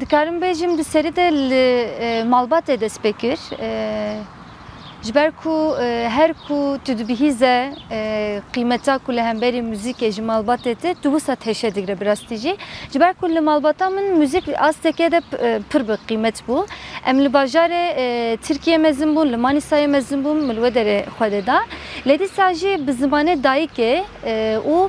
Dikarim bêjim di serî de li malbatê dest pê kir. Ji ber ku her ku tu dibihîze qîmeta ku li hemberî muzîkê ji malbatê tê tu wisa teşe digre bi rastî jî. Ji ber ku li malbata min muzîk asteke de pir bi qîmet bû. Em li bajarê Tirkiyê mezin bûn, li Manîsayê mezin bûm, min li we derê xwe dê da. Lê dîsa jî bi zimanê dayikê û.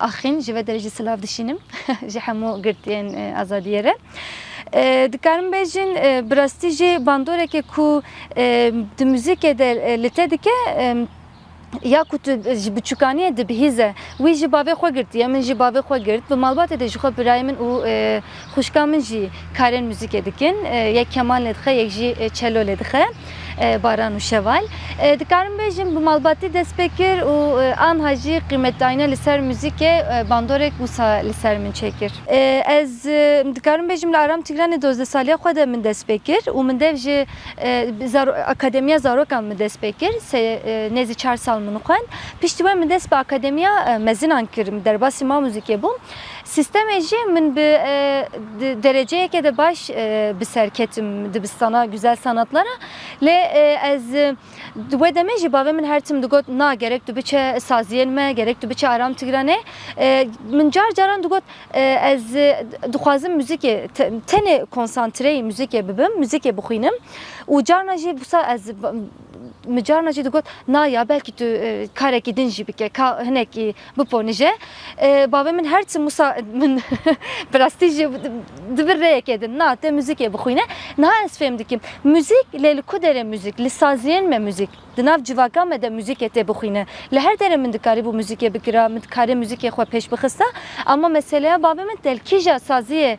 Axin ji vê derejî silav dişînim ji hemû girtiyên azadiyê re. Dikarim bêjin bi rastî jî bandorekê ku di muzîkê de li te dike ya ku tu ji biçûkaniyê dibihîze wî ji bavê xwe girtiye min jî bavê xwe girt bi malbatê de jixwe birayê min û Xwişka min jî karên muzîkê dikin. Yek keman lê dixe, yek jî çelo lê dixe. Baran û Şeval. Dikarim bêjim bi malbatî dest pê kir û anha jî qîmetdayîna li ser muzîkê bandorek wisa li ser min çêkir. Ez dikarim bêjim li Aram Tîgranê dozdeh saliya xwe de min dest pê kir û min dev ji Akademiya Zarokan min dest pê kir. Sê nêzî çar sal min xwend. Piştî we min dest bi Akademiya Mezinan kir. Min derbasî ma muzîkê bûm. Sîstemê jî min bi di dereceyeke de baş bi ser ketim dibistana Güzel Sanatlar a lê ez di wê demê jî bavê min her tim digot na gerek tu biçe saziyên me gerek tu biçe Aram Tigranê min car caran digot ez dixwazim muzîkê tenê konsantreyî muzîkê bibim muzîkê bixwînim û carna jî wisa ez min carna jî digot na ya belkî tu karekî din jî bike ka hinekî Biponije. Bavê min her tim wisa min bi rastî jî dibir rêyekê din na tê muzîkê bixwîne. Niha ez fêm dikim muzîk lê li ku derê muzîk li saziyên me muzîk di nav civaka me de muzîkê tê bixwîne. Li her derê min dikarîbû muzîkê bikira, min dikarî muzîkê xwe pêş bixista ama meseleya bavê min te li kîja saziyê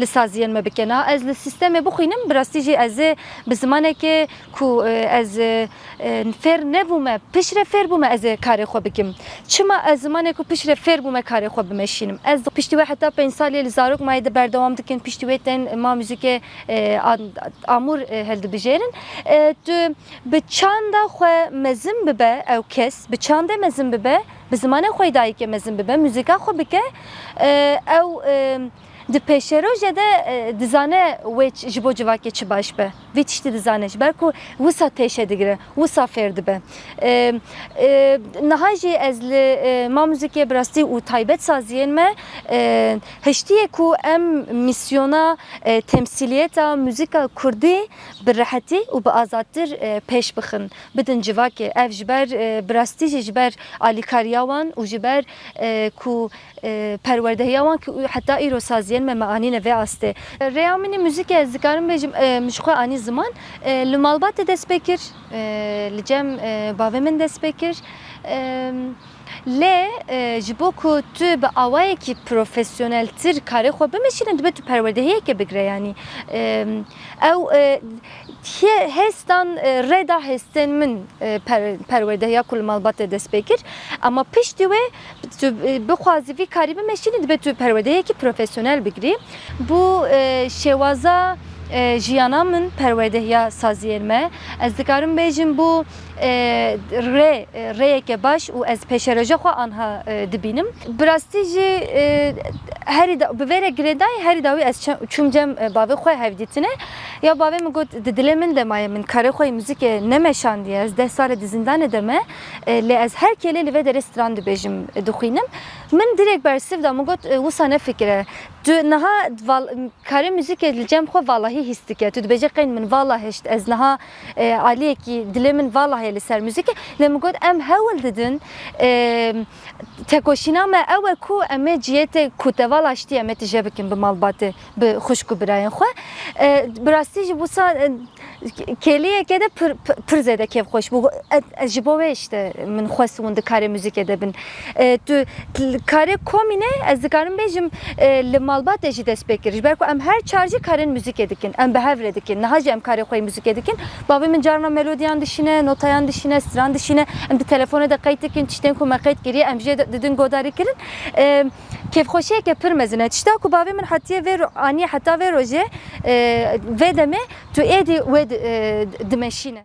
Li saziyên me bike na ez li sîstemê bixwînim bi rastî jî ez ê bi zimanekê ku ez fêr nebûme piştre fêr bûme ez ê karê xwe bikim. Çima ez zimanê ku piştre fêr bûme karê xwe bimeşînim. Ez piştî wê heta pênc salî li zarok mayê de berdewam dikim piştî wê tên ma muzîkê amûr hildibijêrin. Tu bi çanda xwe mezin bibe ew kes bi çandê mezin bibe bi zimanê xwe yê dayikê mezin bibe muzîka xwe bike ew Di pêşerojê de dizane wê ji bo civakê çi baş be. Vî tiştî dizane ji ber ku wisa têşe digire, wisa fêr dibe. Niha jî ez li Ma Muzîkê bi rastî û taybet saziyên me hiştiyê ku em mîsyona temsîliyeta muzîka kurdî bi rehetî û bi azadtir pêş bixin, bidin civakê. Ev ji ber bi rastî jî ji ber alîkariya wan û ji ber ku Perwerdehiya wan ku heta îro saz yên me, me anîne vê astê. Rêya min ê muzîkê ez dikarim bêjim min ji xwe anî ziman. Li malbatê dest pê kir, li cem bavê min dest pê kir. Lê ji bo ku tu bi awayekî profesyoneltir karê xwe bimeşîne dibe tu perwerdehiyeke bigire yanî ew hêstan rê da hêstên min perwerdehiya ku li malbatê dest pê kir. Ema piştî wê. Tu bixwazî vî karî bimeşînî dibe tu perwerdeyekî profesyonel bigirî. Bû şêwaza jiyana min perwerdehiya saziyên me. Ez dikarim bêjim bû rê rêyeke baş û ez pêşeroja xwe anha dibînim. Bi rastî jî herî da bi vê re girêdayî herî dawî ez çûm cem bavê xwe hevdîtine. Ya bavê min got di dilê min de maye min karê xwe yê muzîkê nemeşandiye ez deh sal e di zindanê de me. Lê ez her kêlê li vê derê stran dibêjim, dixwînim. Min dirêk bersiv da, min got wisa nefikire. Tu niha karê muzîkê li cem xwe valahî hîs dike. Tu dibêjî qeyn min vala hişt. Ez niha aliyekî dilê min vala heye li ser muzîkê. Lê min got em hewl didin. Tekoşîna me ew e ku em ê cihê te ku teval aştiyê em ê tije bikin bi malbatê, bi xwişk û birayên xwe. Bi rastî jî wisa kêliyeke de pir pir zêde kêfxweş bû. Ez ji bo wê îşte min xwest hûn di karê muzîkê de bin. Tu li karê komînê ez dikarim bêjim li malbatê jî dest pê kir. Ji ber ku em her çar jî karên muzîkê dikin. Em bi hev re dikin. Niha jî em karê xwe yê muzîkê dikin. Bavê min carna melodiyan dişîne, notayan dişîne, stran dişîne. Em di telefonê de qeyd dikin tiştên ku me qeyd kiriye em jê didin godarî kirin. Kêfxweşiyeke pir mezin e. Tişta ku bavê min hetiye vê aniye heta vê rojê vê demê tu êdî wê dimeşîne.